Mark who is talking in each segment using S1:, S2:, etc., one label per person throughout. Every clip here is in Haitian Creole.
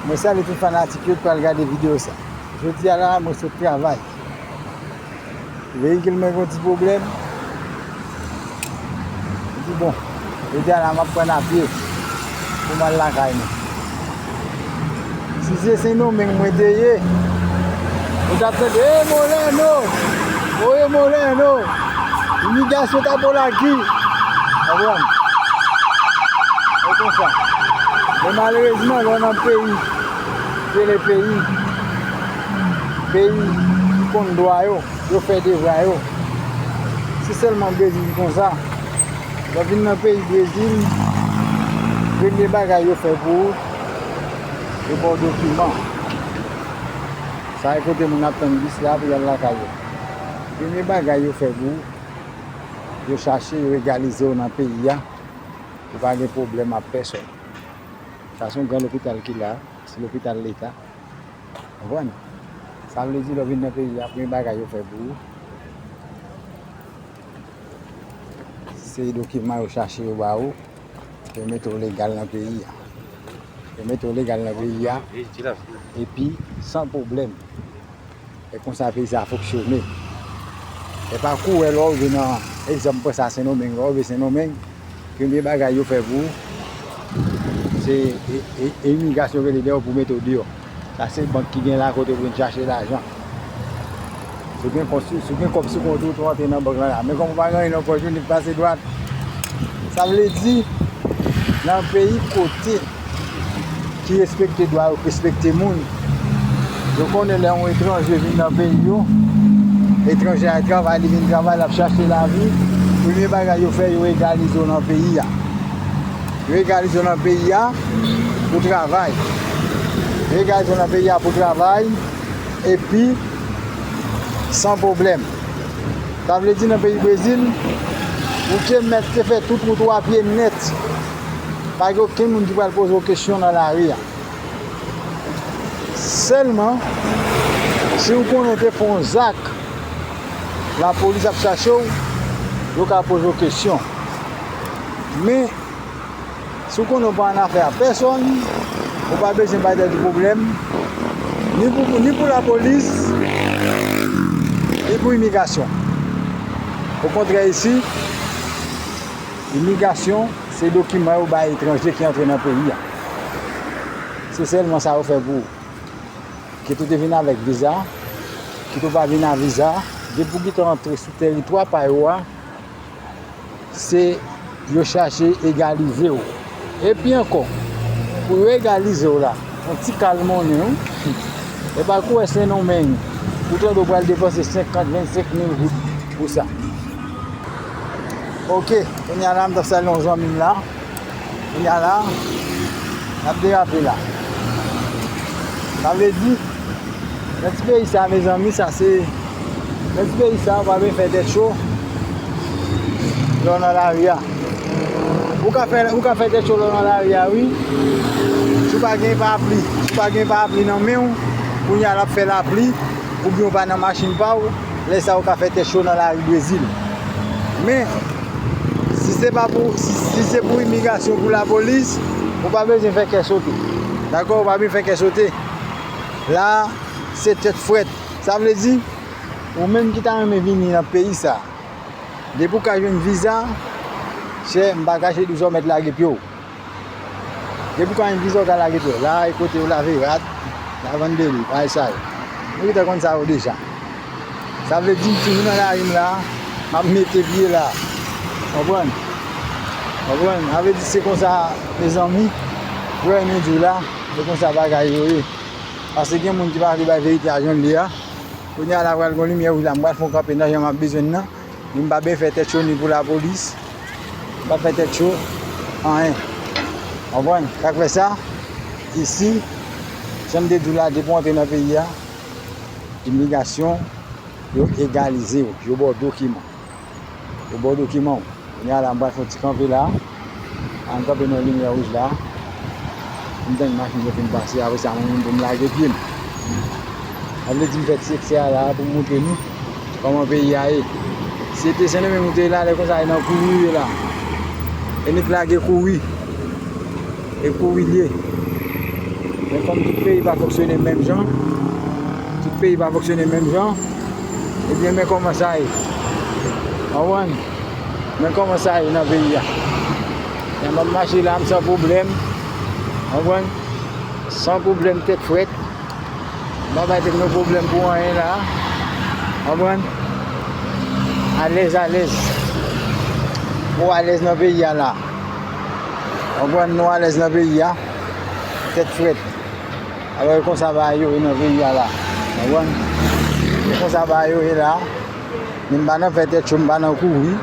S1: Mwen salye tout fanatik yo ki pral gade video sa. Jodi a la mwen sot travay. Veyikil mwen gen yon ti pwoblèm. Mwen di bon, jodi a la map pran a pye pou m al lakay mwen. Si se Sendomeng mwen te ye, ou tap tande Hey Moreno! Oye Moreno! Imigrasyon ta bo laki. Konprann? Se konsa. Men malerezman lè w nan peyi ki rele peyi, peyi ki konn dwa yo, yo fè devwa yo. Se sèlman Brezil ki konsa. Lè w vin nan peyi Brezil, premye bagay yo fè pou ou, yo ba w dokiman. Sa e kote moun ap tann bis la pou y al lakay yo. Premye bagay yo fè pou ou, yo chache regalize w nan peyi a, ou pa gen pwoblèm ak pèsòn. Sa se yon gran lopital ki la, se lopital leta. Konprann? Sa vle di lè w vin nan peyi a, premye bagay yo fè pou ou, se dokiman yo chache yo ba ou, pou yo mete w legal nan peyi a. Yo mete w legal nan peyi a, epi san pwoblèm. E konsa peyi sa foksyone. E pa kou wè lò rive nan egzanp pran sa Sendomeng. Lò rive Sendomeng, premye bagay yo fè pou ou, se e imigrasyon rele deyò pou mete w deyò. Sa se bank ki gen la kote ou vin chache lajan. Si w gen kont sou, si w gen kòb sou kont ou, tou antre nan bank lan la. Men kòm ou pa gen anyen nan pòch ou, nèg pase dwat. Sa vle di, nan peyi kote. ki respekte dwa yo k respekte moun yo konnen lè yon etranje vin nan peyi yo etranje a travay li vin travay lap chache lavi premye bagay yo fè yo egalize w nan peyi a yo egalize w nan peyi a pou travay yo egalize w nan peyi a pou travay epi san pwoblèm sa vle di nan peyi brezil ou te mèt te fè tout wout ou a pye nèt Pa gen okenn moun ki pral poze w kesyon nan lari a. Sèlman, si ou konnen ou te fè yon zak, lapolis ap chache w, yo ka poze w kesyon. Men, si ou konnen ou pa annafè a pèsonn, ou pa bezwen bay tèt ou pwoblèm, ni pou lapolis, ni pou imigrasyon. Okontrè isi. Imigasyon se dokiman yo bay etranje ki antre nan peyi a. Se sèlman sa yo fè pou ou. Kit ou te vin avèk viza, kit ou pa vin a viza, depi ou gite antre sou teritwa pa yo a, se yo chache egalize ou. Epi ankò, pou yo egalize w la, yon ti kal monnen wi. E pa kou wè Sendomeng, ou tande yo pral depanse 50, 25 mil goud pou sa. Ok, kounye a la m t ap salye yon zanmi m la. Kounye a la, n ap derape la. Sa vle di. Nan ti peyi sa mezanmi sa se Nan ti peyi sa ou pa byen fè tèt cho lè w nan lari a Ou ka fè ou ka fè tèt cho lè w nan lari a wi Si w pa gen parapli si w pa gen parapli nan men w kounye a l ap fè lapli oubyen ou pa nan machin pa w lè sa ou ka fè tèt cho nan lari Brezil Men si se pa pou si se pou imigrasyon pou lapolis ou pa bezwen fè kè sote dakò ou pa byen fè kè sote. la se tèt frèt sa vle di ou menm ki ta renmen vini nan peyi sa depi ou ka jwenn viza chè m pa kache di w sa w mèt lage pye w depi ou ka jwenn viza ou ka lage pye w la e kote yo lave rad la vann deri bagay sa yo nou te konn sa yo deja. Sa vle di m toujou nan lari m la, m ap mete pye la. Konprann? Konprann? Sa vle di se konsa mezanmi, vrè nou di w la, se konsa bagay yo ye. Pase gen moun ki pa vle bay verite a jan l ye a. Kounye a la pral gon limyè wouj la, m pral fè yon kanpe nan jan m ap bezwen l nan. Ni m pa bèy fè tèt cho ni pou lapolis. M pa fè tèt cho anyen. Konprann? Sa k fè sa, isi, jan m te di w la, depi w antre nan peyi a, Imigrasyon yo egalize w, yo ba w dokiman. Yo ba w dokiman w. Kounye a la m pral fè yon ti kanpe la. A m kanpe nan yon limyè wouj la. M tann machin yo fin pase. Apre sa mwen menm tou m lage pye m. Sa vle di m fè ti eksè a la pou m montre nou kòman peyi a ye. Si se te Sendomeng ou te ye la, lè konsa e nan kouri ou ye la. E nèk lage kouri. E pou wi l ye. Men kòm tout peyi pa fonksyone menm jan, tout peyi pa fonksyone menm jan, ebyen men kòman sa ye. Konprann? Men kòman sa ye nan peyi a. M ap mache la m san pwoblèm, konprann, san pwoblèm tèt frèt. M pa bay tèt mwen pwoblèm pou anyen la a. Konprann? Alèz alèz. Mwen alèz nan peyi a la a. Konprann nou alèz nan peyi a, tèt frèt. Alò e konsa bagay yo ye nan peyi a la. Konprann? E konsa bagay yo ye la. Min pa nan fè tèt cho, m pa nan kouri.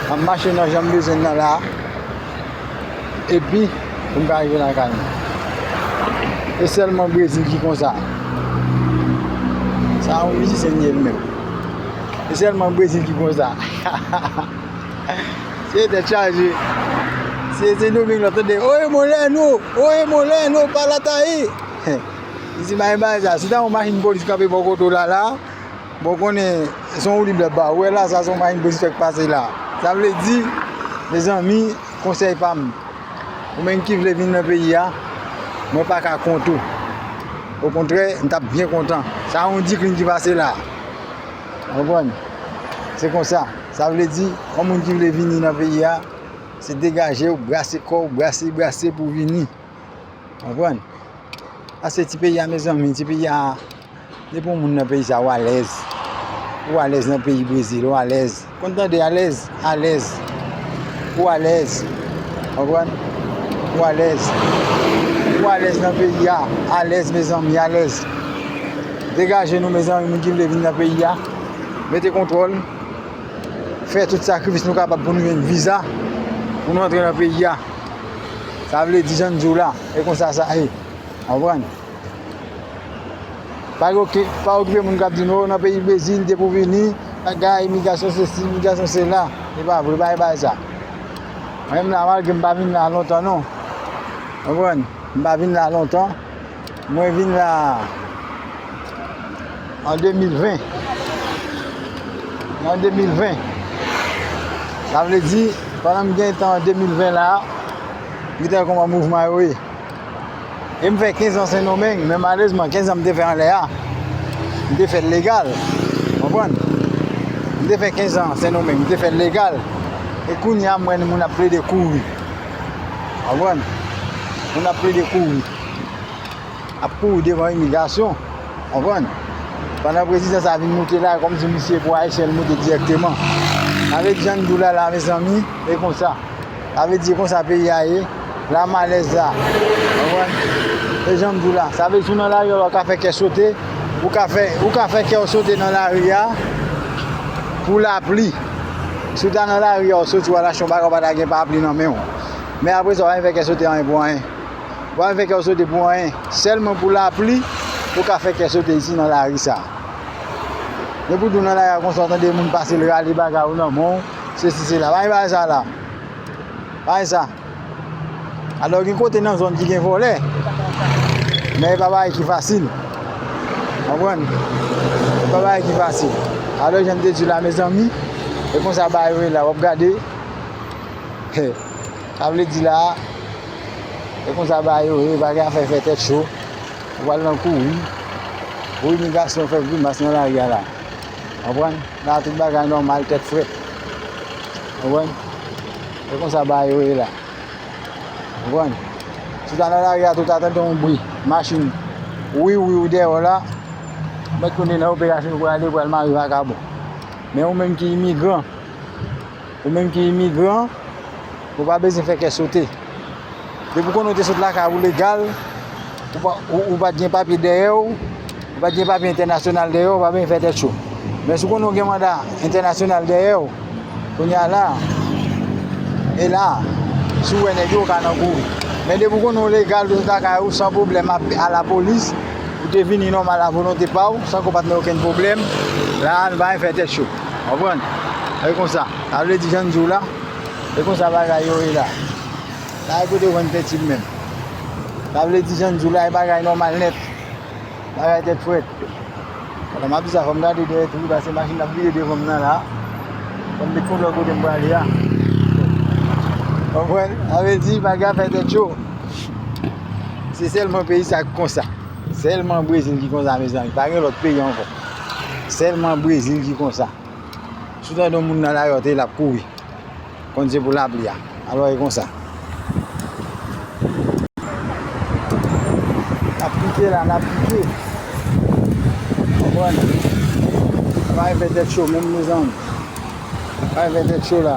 S1: M ap mache nan jan m bezwen nan la. Epi, pou m ka rive lakay mwen. E sèlman Brezil ki konsa. Sa yon mizisyen li ye li menm. E sèlman Brezil ki konsa. Se tèt chaje. Se Sen Doming wap tande Oye Molèno! Oye Molèno! Palatayi! Li di mayi bagay sa. Si ta yon machin polis kanpe bò kote w la la, bon konnen se yon woulib lap ba ou. Ou wè la sa se yon machin polis fèk pase la. Sa vle di, mezanmi, konsèy pa m, ou menm ki vle vin nan peyi a, mwen pa ka kont ou. Okontrè, m tap byen kontan. Sa yon diklin ki pase la. Ou konprann? Se konsa. Sa vle di, yon moun ki vle vini nan peyi a, se degaje w, brase kò w, brase, brase pou w vini. Konprann? Paske ti peyi a mezanmi, ti peyi a, depi yon moun nan peyi sa, ou alèz. Ou alèz nan peyi Brezil, ou alèz. Konn tande alèz? Alèz. Ou alèz. Konprann? Ou alèz. Ou alèz nan peyi a. Alèz mezanmi, alèz. Degaje nou mezanmi, moun ki vle vini nan peyi a. Mete kontwòl. fè tout sakrifis nou kapab pou nou jwenn viza pou nou antre nan peyi a. Sa vle di jan diw la, e konsa sa ye. Anpran? Pa yo ki pa yo ki moun kap di nou nan peyi Brezil depi ou vini, bagay imigrasyon se si, imigrasyon se la. E pa vre, pa e pa sa. Mwen m la mal ke m pa vin la lontan non. Anpran? M pa vin la lontan. Mwen vin la an 2020. An 2020. Sa vle di, pandan m gen tan an 2020 la, m gen tan wè kòman mouvman yo ye. E m fè 15 an Sendomeng, men malezman 15 an m te fè anlè a, m te fè l legal. Konprann? M te fè 15 an Sendomeng, m te fè l legal. E kounye a m wè moun ap plede kouri. Konprann? Moun ap plede kouri. ap kouri devan imigrasyon konprann pandan prezidan sa vin moute la kòm si misye pou ayisyen li moute direkteman avek jan nou la la mezanmi e konsa sa vle di konsa peyi a ye la malèz la konprann e jan nou la sa vle di sou nan lari a ou ka fè kè sote ou ka fè ou ka fè kèw sote nan lari a pou lapli si ou ta nan lari a ou soti ou al achte yon bagay ou pa ta gen papli nan menw men apresa ou pa vin fè kè sote anyen pou anyen. Ou pa vin fè kè w sote pou anyen. Sèlman pou lapli ou ka fè kè sote isi nan lari sa. Men pou di w nan lari a konsa w tande moun pase l rale bagay ou nan men w, sesi sela. Pa gen bagay sa la. Pa gen sa. Alò gen kote nan zòn ki gen vòlè. Men e pa bagay ki fasil. Konprann? E pa bagay ki fasil. Alò jan m te di w la mezanmi, e konsa bagay yo ye la. W ap gade. He. Sa vle di la, e konsa bagay yo ye, pa gen afè fè tèt cho, ou pral nan kouri, pou imigrasyon fè grimas nan lari a la. Konprann? La tout bagay nòmal, tèt frèt. Konprann? E konsa bagay yo ye la. Konprann? Si ta nan lari a tou ta tande yon bri, machin, wiw wiw dèyè w la, ou mèt konnen nan operasyon ou prale, ou pral mare vakabon. Men ou menm ki imigran, Ou menm ki imigran, ou pa bezwen fè kè sote. Depi w konnen w te sot lakay ou legal, ou pa t gen papye dèyè w, ou pa t gen papye entènasyonal dèyè w, ou pa bezwen fè tèt cho. Men si w konnen w gen manda entènasyonal dèyè w, kounye a la, e la, si w wè nèg yo, ou ka nan kouri. Men depi w konnen w legal, ou te sot lakay ou san pwoblèm ap alapolis, ou te vini nòmal avolonte pa w, san ke w pa t nan okenn pwoblèm, la a nou pa bezwen fè tèt cho. Konprann? E konsa. Sa vle di jan n di w la, e konsa bagay yo ye la. Pa gen kote w jwenn penti l menm. Sa vle di jan n di w la, e bagay nòmal nèt. Bagay tèt frèt. Pandan m ap di sa, fò m gade dèyè tou wi paske machin ap vire devan m nan la. Fò m met kont lòt kote m prale a. Konprann? Sa vle di bagay ap fè tèt cho. Se sèlman peyi sa ki konsa. Sèlman Brezil ki konsa mezanmi. Pa gen lòt peyi ankò. Selman brezil ki konsa. Si w tande yon moun nan lari w tande lap kouri. Konn se pou lapli a. Alò e konsa. Nap pike la nap pike. Konprann. Nap anfè tèt cho menm mezanmi. Nap anfè tèt cho la.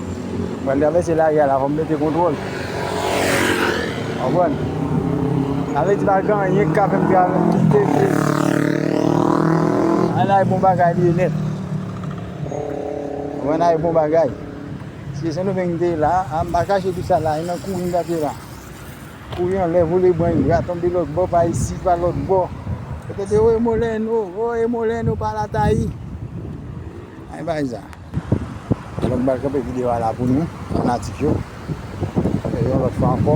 S1: Mwen travèse lari a la fòm mete kontwòl Konprann Sa vle di pa gen anyen ki ka fèm travèse kite Ay la e bon bagay li ye nèt Konprann la e bon bagay Si se sendomeng m te ye la a m pa chache tout sa la a e nan kouri m tap ye la Kouri anlè vole bren gra tonbe lòtbò pa isi pa lòtbò Yo te di o e molèno o e molèno pa la tayi Ay bay sa. Donk m pral kanpe video a la pou nou fanatik yo e yon lòt fwa ankò.